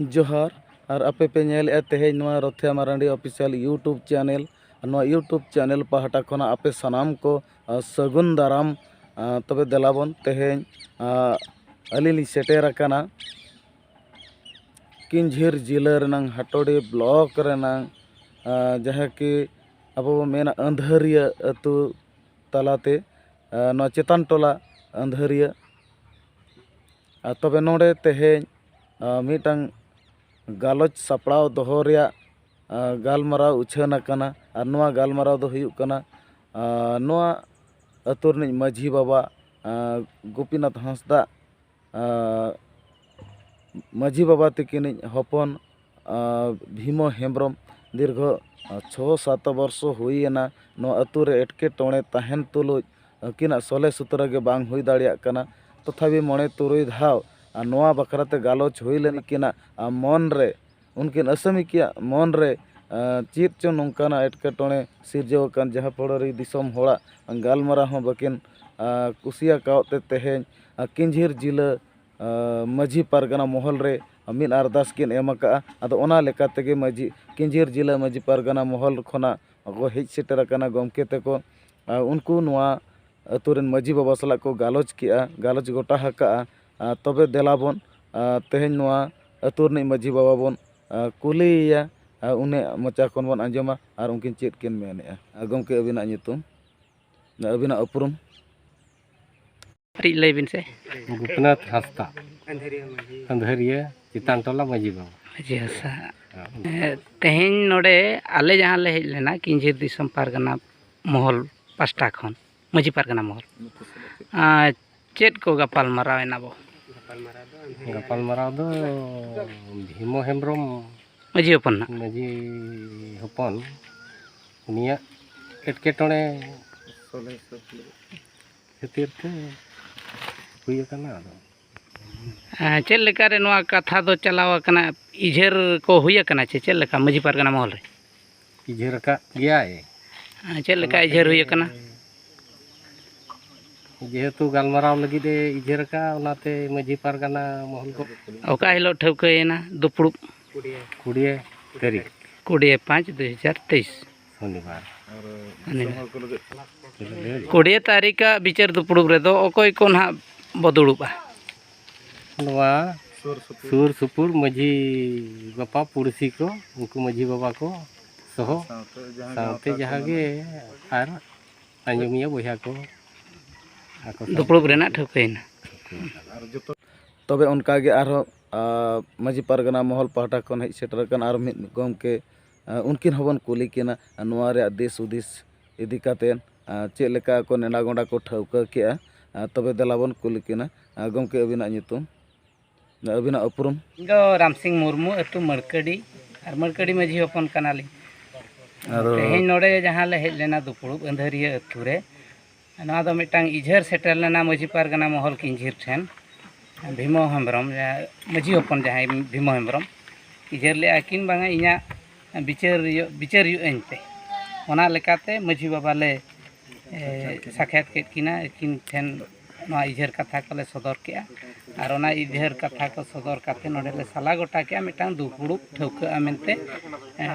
ᱡᱚᱦᱟᱨ ᱟᱨ ᱟᱯᱮ ᱯᱮ ᱧᱮᱞᱮᱫᱼᱟ ᱛᱮᱦᱮᱧ ᱱᱚᱣᱟ ᱨᱚᱛᱷᱭᱟ ᱢᱟᱨᱟᱱᱰᱤ ᱚᱯᱷᱤᱥᱤᱭᱟᱞ ᱤᱭᱩᱴᱩᱵᱽ ᱪᱮᱱᱮᱞ ᱟᱨ ᱱᱚᱣᱟ ᱤᱭᱩᱴᱩᱵᱽ ᱪᱮᱱᱮᱞ ᱯᱟᱦᱴᱟ ᱠᱷᱚᱱᱟᱜ ᱟᱯᱮ ᱥᱟᱱᱟᱢ ᱠᱚ ᱥᱟᱹᱜᱩᱱ ᱫᱟᱨᱟᱢ ᱛᱚᱵᱮ ᱫᱮᱞᱟ ᱵᱚᱱ ᱛᱮᱦᱮᱧ ᱟᱹᱞᱤᱧ ᱞᱤᱧ ᱥᱮᱴᱮᱨ ᱟᱠᱟᱱᱟ ᱠᱤᱧᱡᱷᱤᱨ ᱡᱤᱞᱟᱹ ᱨᱮᱱᱟᱝ ᱦᱟᱴᱳᱰᱤ ᱵᱞᱚᱠ ᱨᱮᱱᱟᱝ ᱡᱟᱦᱟᱸ ᱠᱤ ᱟᱵᱚ ᱵᱚᱱ ᱢᱮᱱᱟ ᱟᱹᱱᱫᱷᱟᱹᱨᱤᱭᱟᱹ ᱟᱹᱛᱩ ᱛᱟᱞᱟᱛᱮ ᱱᱚᱣᱟ ᱪᱮᱛᱟᱱ ᱴᱚᱞᱟ ᱟᱹᱱᱫᱷᱟᱹᱨᱤᱭᱟᱹ ᱟᱨ ᱛᱚᱵᱮ ᱱᱚᱰᱮ ᱛᱮᱦᱮᱧ ᱢᱤᱫᱴᱟᱝ ᱜᱟᱞᱚᱪ ᱥᱟᱯᱲᱟᱣ ᱫᱚᱦᱚ ᱨᱮᱭᱟᱜ ᱜᱟᱞᱢᱟᱨᱟᱣ ᱩᱪᱷᱟᱹᱱ ᱟᱠᱟᱱᱟ ᱟᱨ ᱱᱚᱣᱟ ᱜᱟᱞᱢᱟᱨᱟᱣ ᱫᱚ ᱦᱩᱭᱩᱜ ᱠᱟᱱᱟ ᱱᱚᱣᱟ ᱟᱹᱛᱩ ᱨᱤᱱᱤᱡ ᱢᱟᱺᱡᱷᱤ ᱵᱟᱵᱟ ᱜᱳᱯᱤᱱᱟᱛᱷ ᱦᱟᱸᱥᱫᱟᱜ ᱢᱟᱺᱡᱷᱤ ᱵᱟᱵᱟ ᱛᱤᱠᱤᱱᱤᱡ ᱦᱚᱯᱚᱱ ᱵᱷᱤᱢᱚ ᱦᱮᱢᱵᱨᱚᱢ ᱫᱤᱨᱜᱷᱚ ᱪᱷᱚ ᱥᱟᱛ ᱵᱚᱨᱥᱚ ᱦᱩᱭᱮᱱᱟ ᱱᱚᱣᱟ ᱟᱹᱛᱩ ᱨᱮ ᱮᱴᱠᱮᱴᱚᱬᱮ ᱛᱟᱦᱮᱱ ᱛᱩᱞᱩᱡ ᱟᱹᱠᱤᱱᱟᱜ ᱥᱚᱞᱦᱮ ᱥᱩᱛᱨᱚ ᱜᱮ ᱵᱟᱝ ᱦᱩᱭ ᱫᱟᱲᱮᱭᱟᱜ ᱠᱟᱱᱟ ᱛᱚᱛᱷᱟᱯᱤ ᱢᱚᱬᱮ ᱛᱩᱨᱩᱭ ᱫᱷᱟᱣ ᱟᱨ ᱱᱚᱣᱟ ᱵᱟᱠᱷᱨᱟ ᱛᱮ ᱜᱟᱞᱚᱪ ᱦᱩᱭ ᱞᱮᱱᱟ ᱩᱱᱠᱤᱱᱟᱜ ᱢᱚᱱ ᱨᱮ ᱩᱱᱠᱤᱱ ᱟᱹᱥᱟᱹᱢᱤᱠᱤᱭᱟᱜ ᱢᱚᱱ ᱨᱮ ᱪᱮᱫ ᱪᱚ ᱱᱚᱝᱠᱟᱱᱟᱜ ᱮᱴᱠᱮᱴᱚᱬᱮ ᱥᱤᱨᱡᱟᱹᱣ ᱟᱠᱟᱱ ᱡᱟᱦᱟᱸ ᱯᱷᱚᱲᱚ ᱨᱮ ᱫᱤᱥᱚᱢ ᱦᱚᱲᱟᱜ ᱜᱟᱞᱢᱟᱨᱟᱣ ᱦᱚᱸ ᱵᱟᱹᱠᱤᱱ ᱠᱩᱥᱤᱭᱟᱠᱟᱫ ᱛᱮ ᱛᱮᱦᱮᱧ ᱠᱟᱺᱡᱷᱤᱨ ᱡᱤᱞᱟᱹ ᱢᱟᱺᱡᱷᱤ ᱯᱟᱨᱜᱟᱱᱟ ᱢᱚᱦᱚᱞ ᱨᱮ ᱢᱤᱫ ᱟᱨᱫᱟᱥ ᱠᱤᱱ ᱮᱢ ᱟᱠᱟᱫᱼᱟ ᱟᱫᱚ ᱚᱱᱟ ᱞᱮᱠᱟ ᱛᱮᱜᱮ ᱢᱟᱺᱡᱷᱤ ᱠᱟᱺᱡᱷᱤᱨ ᱡᱮᱞᱟ ᱢᱟᱺᱡᱷᱤ ᱯᱟᱨᱜᱟᱱᱟ ᱢᱚᱦᱚᱞ ᱠᱷᱚᱱᱟᱜ ᱠᱚ ᱦᱮᱡ ᱥᱮᱴᱮᱨ ᱟᱠᱟᱱᱟ ᱜᱚᱢᱠᱮ ᱛᱟᱠᱚ ᱟᱨ ᱩᱱᱠᱩ ᱱᱚᱣᱟ ᱟᱹᱛᱩ ᱨᱮᱱ ᱢᱟᱺᱡᱷᱤ ᱵᱟᱵᱟ ᱥᱟᱞᱟᱜ ᱠᱚ ᱜᱟᱞᱚᱪ ᱠᱮᱫᱼᱟ ᱜᱟᱞᱚᱪ ᱜᱚᱴᱟ ᱟᱠᱟᱫᱼᱟ ᱟᱨ ᱛᱚᱵᱮ ᱫᱮᱞᱟ ᱵᱚᱱ ᱛᱮᱦᱮᱧ ᱱᱚᱣᱟ ᱟᱹᱛᱩ ᱨᱤᱱᱤᱡ ᱢᱟᱺᱡᱷᱤ ᱵᱟᱵᱟ ᱵᱚᱱ ᱠᱩᱞᱤᱭᱮᱭᱟ ᱟᱨ ᱩᱱᱤᱭᱟᱜ ᱢᱚᱪᱟ ᱠᱷᱚᱱ ᱵᱚᱱ ᱟᱸᱡᱚᱢᱟ ᱟᱨ ᱩᱱᱠᱤᱱ ᱪᱮᱫ ᱠᱤᱱ ᱢᱮᱱᱮᱫᱼᱟ ᱜᱚᱢᱠᱮ ᱟᱹᱵᱤᱱᱟᱜ ᱧᱩᱛᱩᱢ ᱟᱹᱵᱤᱱᱟᱜ ᱩᱯᱨᱩᱢ ᱠᱟᱹᱴᱤᱡ ᱞᱟᱹᱭ ᱵᱤᱱ ᱥᱮ ᱜᱩᱯᱱᱟᱛᱷ ᱦᱟᱸᱥᱫᱟ ᱟᱹᱱᱫᱷᱟᱹᱨᱤᱭᱟᱹ ᱪᱮᱛᱟᱱ ᱴᱚᱞᱟ ᱢᱟᱹᱡᱷᱤ ᱵᱟᱵᱟ ᱢᱟᱹᱡᱷᱤ ᱦᱟᱸᱥᱫᱟ ᱛᱮᱦᱮᱧ ᱱᱚᱰᱮ ᱟᱞᱮ ᱡᱟᱦᱟᱸ ᱞᱮ ᱦᱮᱡ ᱞᱮᱱᱟ ᱠᱤᱧᱡᱷᱤᱨ ᱫᱤᱥᱚᱢ ᱯᱟᱨᱜᱟᱱᱟ ᱢᱚᱦᱚᱞ ᱯᱟᱥᱴᱟ ᱠᱷᱚᱱ ᱢᱟᱹᱡᱷᱤ ᱯᱟᱨᱜᱟᱱᱟ ᱢᱚᱦᱚᱞ ᱪᱮᱫ ᱠᱚ ᱜᱟᱯᱟᱞ ᱢᱟᱨᱟᱣ ᱮᱱᱟ ᱵᱚ ᱜᱟᱯᱟᱞ ᱢᱟᱨᱟᱣ ᱫᱚ ᱵᱷᱤᱢᱚ ᱦᱮᱢᱵᱨᱚᱢ ᱢᱟᱹᱡᱷᱤ ᱦᱚᱯᱚᱱ ᱱᱟᱜ ᱢᱟᱹᱡᱷᱤ ᱦᱚᱯᱚᱱ ᱩᱱᱤᱭᱟᱜ ᱮᱴᱠᱮᱴᱚᱬᱮ ᱠᱷᱟᱹᱛᱤᱨ ᱛᱮ ᱦᱩᱭ ᱟᱠᱟᱱᱟ ᱟᱫᱚ ᱪᱮᱫ ᱞᱮᱠᱟᱨᱮ ᱱᱚᱣᱟ ᱠᱟᱛᱷᱟ ᱫᱚ ᱪᱟᱞᱟᱣ ᱟᱠᱟᱱᱟ ᱤᱡᱷᱟᱹᱨ ᱠᱚ ᱦᱩᱭ ᱟᱠᱟᱱᱟ ᱪᱮ ᱪᱮᱫ ᱞᱮᱠᱟ ᱢᱟᱺᱡᱷᱤ ᱯᱟᱨᱜᱟᱱᱟ ᱢᱚᱦᱚᱞ ᱨᱮ ᱤᱡᱷᱟᱹᱨ ᱟᱠᱟᱫ ᱜᱮᱭᱟᱭ ᱪᱮᱫ ᱞᱮᱠᱟ ᱤᱡᱷᱟᱹᱨ ᱦᱩᱭ ᱟᱠᱟᱱᱟ ᱡᱮᱦᱮᱛᱩ ᱜᱟᱞᱢᱟᱨᱟᱣ ᱞᱟᱹᱜᱤᱫ ᱮ ᱤᱡᱷᱟᱹᱨ ᱟᱠᱟᱫᱼᱟ ᱚᱱᱟᱛᱮ ᱢᱟᱺᱡᱷᱤ ᱯᱟᱨᱜᱟᱱᱟ ᱢᱚᱦᱚᱞ ᱠᱚ ᱚᱠᱟ ᱦᱤᱞᱳᱜ ᱴᱷᱟᱹᱣᱠᱟᱹᱭᱮᱱᱟ ᱫᱩᱯᱲᱩᱵ ᱠᱩᱲᱤᱭᱟᱹ ᱛᱟᱹᱨᱤᱠᱷ ᱠᱩᱲᱤᱭᱟᱹ ᱯᱟᱸᱪ ᱫᱩ ᱦᱟᱡᱟᱨ ᱛᱮᱭᱤᱥ ᱥᱚᱱᱤᱵᱟᱨ ᱠᱩᱲᱤᱭᱟᱹ ᱛᱟᱹᱨᱤᱠᱷᱟᱜ ᱵᱤᱪᱟᱹᱨ ᱫᱩᱯᱲᱩᱵ ᱨᱮᱫᱚ ᱚᱠᱚᱭ ᱠᱚ ᱱᱟᱦᱟᱜ ᱵᱚ ᱫᱩᱲᱩᱵᱼᱟ ᱱᱚᱣᱟ ᱥᱩᱨ ᱥᱩᱯᱩᱨ ᱢᱟᱺᱡᱷᱤ ᱵᱟᱯᱟ ᱯᱩᱲᱥᱤ ᱠᱚ ᱩᱱᱠᱩ ᱢᱟᱺᱡᱷᱤ ᱵᱟᱵᱟ ᱠᱚ ᱥᱚᱦᱚ ᱥᱟᱶᱛᱮ ᱡᱟᱦᱟᱸ ᱜᱮ ᱟᱨ ᱟᱸᱡᱚᱢᱤᱭᱟᱹ ᱵᱚᱭᱦᱟ ᱠᱚ ᱫᱩᱯᱲᱩᱵ ᱨᱮᱱᱟᱜ ᱴᱷᱟᱹᱣᱠᱟᱹᱭᱮᱱᱟ ᱛᱚᱵᱮ ᱚᱱᱠᱟᱜᱮ ᱟᱨᱦᱚᱸ ᱢᱟᱺᱡᱷᱤ ᱯᱟᱨᱜᱟᱱᱟ ᱢᱚᱦᱚᱞ ᱯᱟᱦᱴᱟ ᱠᱷᱚᱱ ᱦᱮᱡ ᱥᱮᱴᱮᱨ ᱟᱠᱟᱱ ᱟᱨ ᱢᱤᱫ ᱜᱚᱢᱠᱮ ᱩᱱᱠᱤᱱ ᱦᱚᱸᱵᱚᱱ ᱠᱩᱞᱤ ᱠᱤᱱᱟ ᱱᱚᱣᱟ ᱨᱮᱭᱟᱜ ᱫᱤᱥ ᱦᱩᱫᱤᱥ ᱤᱫᱤ ᱠᱟᱛᱮᱫ ᱪᱮᱫ ᱞᱮᱠᱟ ᱠᱚ ᱱᱮᱰᱟ ᱜᱚᱸᱰᱟ ᱠᱚ ᱴᱷᱟᱹᱣᱠᱟᱹ ᱠᱮᱜᱼᱟ ᱛᱚᱵᱮ ᱫᱮᱞᱟ ᱵᱚᱱ ᱠᱩᱞᱤ ᱠᱤᱱᱟ ᱜᱚᱢᱠᱮ ᱟᱹᱵᱤᱱᱟᱜ ᱧᱩᱛᱩᱢ ᱟᱹᱵᱤᱱᱟᱜ ᱩᱯᱨᱩᱢ ᱤᱧ ᱫᱚ ᱨᱟᱢᱥᱤᱝ ᱢᱩᱨᱢᱩ ᱟᱹᱛᱩ ᱢᱟᱹᱲᱠᱟᱹᱰᱤ ᱟᱨ ᱢᱟᱹᱲᱠᱟᱹᱰᱤ ᱢᱟᱹᱡᱷᱤ ᱦᱚᱯᱚᱱ ᱠᱟᱱᱟᱞᱤᱧ ᱟᱫᱚ ᱛᱮᱦᱮᱧ ᱱᱚᱰᱮ ᱡᱟᱦᱟᱸ ᱞᱮ ᱦᱮᱡ ᱞᱮᱱᱟ ᱫᱩᱯᱲᱩᱵ ᱟᱹᱫᱷᱟᱹᱨᱤᱭᱟᱹ ᱟᱹᱛᱩ ᱨᱮ ᱱᱚᱣᱟ ᱫᱚ ᱢᱤᱫᱴᱟᱝ ᱤᱡᱷᱟᱹᱨ ᱥᱮᱴᱮᱨ ᱞᱮᱱᱟ ᱢᱟᱹᱡᱷᱤ ᱯᱟᱨᱜᱟᱱᱟ ᱢᱚᱦᱚᱞ ᱠᱤᱧᱡᱷᱤᱨ ᱴᱷᱮᱱ ᱵᱷᱤᱢᱚ ᱦᱮᱢᱵᱨᱚᱢ ᱢᱟᱹᱡᱷᱤ ᱦᱚᱯᱚᱱ ᱡᱟᱦᱟᱸᱭ ᱵᱷᱤᱢᱚ ᱦᱮᱢᱵᱨᱚᱢ ᱤᱡᱷᱟᱹᱨ ᱞᱮᱫᱼᱟᱭ ᱠᱤᱱ ᱵᱟᱝᱟ ᱤᱧᱟᱹᱜ ᱵᱤᱪᱟᱹᱨ ᱦᱩᱭᱩᱜ ᱵᱤᱪᱟᱹᱨ ᱦᱩᱭᱩᱜ ᱟᱹᱧ ᱯᱮ ᱚᱱᱟ ᱞᱮᱠᱟᱛᱮ ᱢᱟᱹᱡᱷᱤ ᱵᱟᱵᱟ ᱞᱮ ᱥᱟᱠᱷᱭᱟᱛ ᱠᱮᱫ ᱠᱤᱱᱟ ᱟᱹᱠᱤᱱ ᱴᱷᱮᱱ ᱱᱚᱣᱟ ᱤᱡᱷᱟᱹᱨ ᱠᱟᱛᱷᱟ ᱠᱚᱞᱮ ᱥᱚᱫᱚᱨ ᱠᱮᱫᱼᱟ ᱟᱨ ᱚᱱᱟ ᱤᱡᱷᱟᱹᱨ ᱠᱟᱛᱷᱟ ᱠᱚ ᱥᱚᱫᱚᱨ ᱠᱟᱛᱮᱫ ᱱᱚᱰᱮ ᱞᱮ ᱥᱟᱞᱟ ᱜᱚᱴᱟ ᱠᱮᱫᱼᱟ ᱢᱤᱫᱴᱟᱝ ᱫᱩᱯᱩᱲᱩᱵ ᱴᱷᱟᱹᱣᱠᱟᱹᱜᱼᱟ ᱢᱮᱱᱛᱮ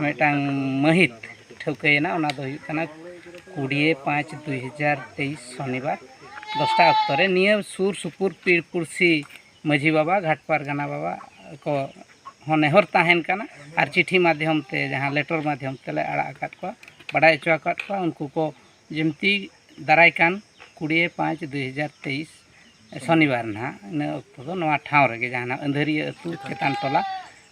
ᱢᱤᱫᱴᱟᱝ ᱢᱟᱹᱦᱤᱛ ᱴᱷᱟᱹᱣᱠᱟᱹᱭᱮᱱᱟ ᱚᱱᱟ ᱫᱚ ᱦᱩᱭᱩᱜ ᱠᱟᱱᱟ ᱠᱩᱲᱤᱭᱮ ᱯᱟᱸᱪ ᱫᱩᱭ ᱦᱟᱡᱟᱨ ᱛᱮᱭᱤᱥ ᱥᱚᱱᱤᱵᱟᱨ ᱫᱚᱥᱴᱟ ᱚᱠᱛᱚ ᱨᱮ ᱱᱤᱭᱟᱹ ᱥᱩᱨ ᱥᱩᱯᱩᱨ ᱯᱤᱲ ᱯᱩᱲᱥᱤ ᱢᱟᱹᱡᱷᱤ ᱵᱟᱵᱟ ᱜᱷᱟᱴ ᱯᱟᱨᱜᱟᱱᱟ ᱵᱟᱵᱟ ᱠᱚ ᱦᱚᱸ ᱱᱮᱦᱚᱨ ᱛᱟᱦᱮᱱ ᱠᱟᱱᱟ ᱟᱨ ᱪᱤᱴᱷᱤ ᱢᱟᱫᱽᱫᱷᱚᱢ ᱛᱮ ᱡᱟᱦᱟᱸ ᱞᱮᱴᱚᱨ ᱢᱟᱫᱽᱫᱷᱚᱢ ᱛᱮᱞᱮ ᱟᱲᱟᱜ ᱟᱠᱟᱫ ᱠᱚᱣᱟ ᱵᱟᱰᱟᱭ ᱦᱚᱪᱚ ᱟᱠᱟᱫ ᱠᱚᱣᱟ ᱩᱱᱠᱩ ᱠᱚ ᱡᱤᱱᱛᱤ ᱫᱟᱨᱟᱭ ᱠᱟᱱ ᱠᱩᱲᱤᱭᱮ ᱯᱟᱸᱪ ᱫᱩᱭ ᱦᱟᱡᱟᱨ ᱛᱮᱭᱤᱥ ᱥᱚᱱᱤᱵᱟᱨ ᱱᱟᱦᱟᱜ ᱤᱱᱟᱹ ᱚᱠᱛᱚ ᱫᱚ ᱱᱚᱣᱟ ᱴᱷᱟᱶ ᱨᱮᱜᱮ ᱡᱟᱦᱟᱸ ᱱᱟᱦᱟᱜ ᱟᱹᱫᱷᱟᱹᱨᱤᱭᱟᱹ ᱟᱹᱛᱩ ᱪᱮᱛᱟᱱ ᱴᱚᱞᱟ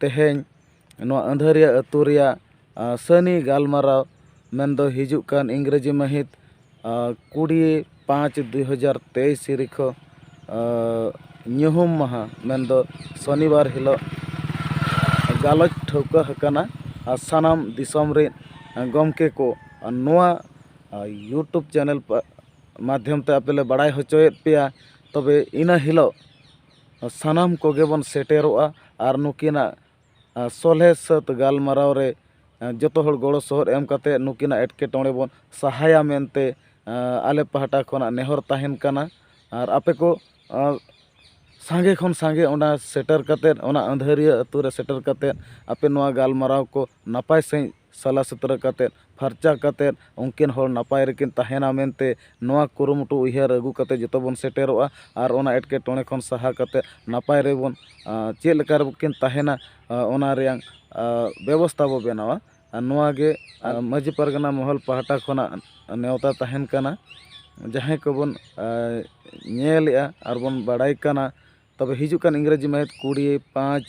ᱛᱮᱦᱮᱧ ᱱᱚᱣᱟ ᱟᱹᱫᱷᱟᱹᱨᱤᱭᱟᱹ ᱟᱹᱛᱩ ᱨᱮᱭᱟᱜ ᱥᱟᱹᱱᱤ ᱜᱟᱞᱢᱟᱨᱟᱣ ᱢᱮᱱᱫᱚ ᱦᱤᱡᱩᱜ ᱠᱟᱱ ᱤᱝᱨᱮᱡᱤ ᱢᱟᱹᱦᱤᱛ ᱠᱩᱲᱤ ᱯᱟᱸᱪ ᱫᱩ ᱦᱟᱡᱟᱨ ᱛᱮᱭᱤᱥ ᱛᱟᱹᱨᱤᱠᱷᱚ ᱧᱩᱦᱩᱢ ᱢᱟᱦᱟ ᱢᱮᱱᱫᱚ ᱥᱚᱱᱤᱵᱟᱨ ᱦᱤᱞᱳᱜ ᱜᱟᱞᱚᱪ ᱴᱷᱟᱹᱣᱠᱟᱹ ᱟᱠᱟᱱᱟ ᱟᱨ ᱥᱟᱱᱟᱢ ᱫᱤᱥᱚᱢ ᱨᱮ ᱜᱚᱢᱠᱮ ᱠᱚ ᱱᱚᱣᱟ ᱤᱭᱩᱴᱩᱵᱽ ᱪᱮᱱᱮᱞ ᱢᱟᱫᱽᱫᱷᱚᱢ ᱛᱮ ᱟᱯᱮ ᱞᱮ ᱵᱟᱲᱟᱭ ᱦᱚᱪᱚᱭᱮᱫ ᱯᱮᱭᱟ ᱛᱚᱵᱮ ᱤᱱᱟᱹ ᱦᱤᱞᱳᱜ ᱥᱟᱱᱟᱢ ᱠᱚᱜᱮ ᱵᱚᱱ ᱥᱮᱴᱮᱨᱚᱜᱼᱟ ᱟᱨ ᱱᱩᱠᱤᱱᱟᱜ ᱥᱚᱞᱦᱮ ᱥᱟᱹᱛ ᱜᱟᱞᱢᱟᱨᱟᱣ ᱨᱮ ᱡᱚᱛᱚ ᱦᱚᱲ ᱜᱚᱲᱚ ᱥᱚᱦᱚᱫ ᱮᱢ ᱠᱟᱛᱮ ᱱᱩᱠᱤᱱᱟᱜ ᱮᱴᱠᱮᱴᱚᱬᱮ ᱵᱚᱱ ᱥᱟᱦᱟᱭᱟ ᱢᱮᱱᱛᱮ ᱟᱞᱮ ᱯᱟᱦᱴᱟ ᱠᱷᱚᱱᱟᱜ ᱱᱮᱦᱚᱨ ᱛᱟᱦᱮᱱ ᱠᱟᱱᱟ ᱟᱨ ᱟᱯᱮ ᱠᱚ ᱥᱟᱸᱜᱮ ᱠᱷᱚᱱ ᱥᱟᱸᱜᱮ ᱚᱱᱟ ᱥᱮᱴᱮᱨ ᱠᱟᱛᱮ ᱚᱱᱟ ᱟᱹᱫᱷᱟᱹᱨᱤᱭᱟᱹ ᱟᱛᱳ ᱨᱮ ᱥᱮᱴᱮᱨ ᱠᱟᱛᱮ ᱟᱯᱮ ᱱᱚᱣᱟ ᱜᱟᱞᱢᱟᱨᱟᱣ ᱠᱚ ᱱᱟᱯᱟᱭ ᱥᱟᱺᱦᱤᱡ ᱥᱟᱞᱟ ᱥᱩᱛᱨᱟᱹ ᱠᱟᱛᱮ ᱯᱷᱟᱨᱪᱟ ᱠᱟᱛᱮ ᱩᱱᱠᱤᱱ ᱦᱚᱲ ᱱᱟᱯᱟᱭ ᱨᱮᱠᱤᱱ ᱛᱟᱦᱮᱱᱟ ᱢᱮᱱᱛᱮ ᱱᱚᱣᱟ ᱠᱩᱨᱩᱢᱩᱴᱩ ᱩᱭᱦᱟᱹᱨ ᱟᱹᱜᱩ ᱠᱟᱛᱮ ᱡᱚᱛᱚ ᱵᱚᱱ ᱥᱮᱴᱮᱨᱚᱜᱼᱟ ᱟᱨ ᱚᱱᱟ ᱮᱴᱠᱮᱴᱚᱬᱮ ᱠᱷᱚᱱ ᱥᱟᱦᱟ ᱠᱟᱛᱮ ᱱᱟᱯᱟᱭ ᱨᱮᱵᱚᱱ ᱪᱮᱫ ᱞᱮᱠᱟ ᱨᱮᱠᱤᱱ ᱛᱟᱦᱮᱱᱟ ᱚᱱᱟ ᱨᱮᱭᱟᱝ ᱵᱮᱵᱚᱥᱛᱟ ᱵᱚ ᱵᱮᱱᱟᱣᱟ ᱟᱨ ᱱᱚᱣᱟ ᱜᱮ ᱢᱟᱹᱡᱷᱤ ᱯᱟᱨᱜᱟᱱᱟ ᱢᱚᱦᱚᱞ ᱯᱟᱦᱴᱟ ᱠᱷᱚᱱᱟᱜ ᱱᱮᱣᱛᱟ ᱛᱟᱦᱮᱱ ᱠᱟᱱᱟ ᱡᱟᱦᱟᱸᱭ ᱠᱚᱵᱚᱱ ᱧᱮᱞᱮᱜᱼᱟ ᱟᱨ ᱵᱚᱱ ᱵᱟᱲᱟᱭ ᱠᱟᱱᱟ ᱛᱚᱵᱮ ᱦᱤᱡᱩᱜ ᱠᱟᱱ ᱤᱝᱨᱟᱹᱡᱤ ᱢᱟᱹᱦᱤᱛ ᱠᱩᱲᱤ ᱯᱟᱸᱪ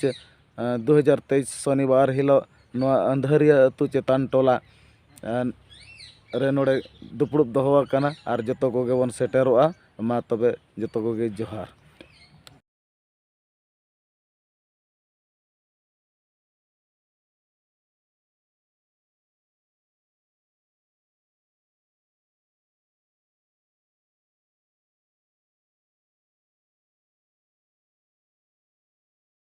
ᱫᱩ ᱦᱟᱡᱟᱨ ᱛᱮᱭᱤᱥ ᱥᱚᱱᱤᱵᱟᱨ ᱦᱤᱞᱳᱜ ᱱᱚᱣᱟ ᱟᱹᱫᱷᱟᱹᱨᱤᱭᱟᱹ ᱟᱹᱛᱩ ᱪᱮᱛᱟᱱ ᱴᱚᱞᱟ ᱨᱮ ᱱᱚᱰᱮ ᱫᱩᱯᱲᱩᱵ ᱫᱚᱦᱚ ᱟᱠᱟᱱᱟ ᱟᱨ ᱡᱚᱛᱚ ᱠᱚᱜᱮ ᱵᱚᱱ ᱥᱮᱴᱮᱨᱚᱜᱼᱟ ᱢᱟ ᱛᱚᱵᱮ ᱡᱚᱛᱚ ᱠᱚᱜᱮ ᱡᱚᱦᱟᱨ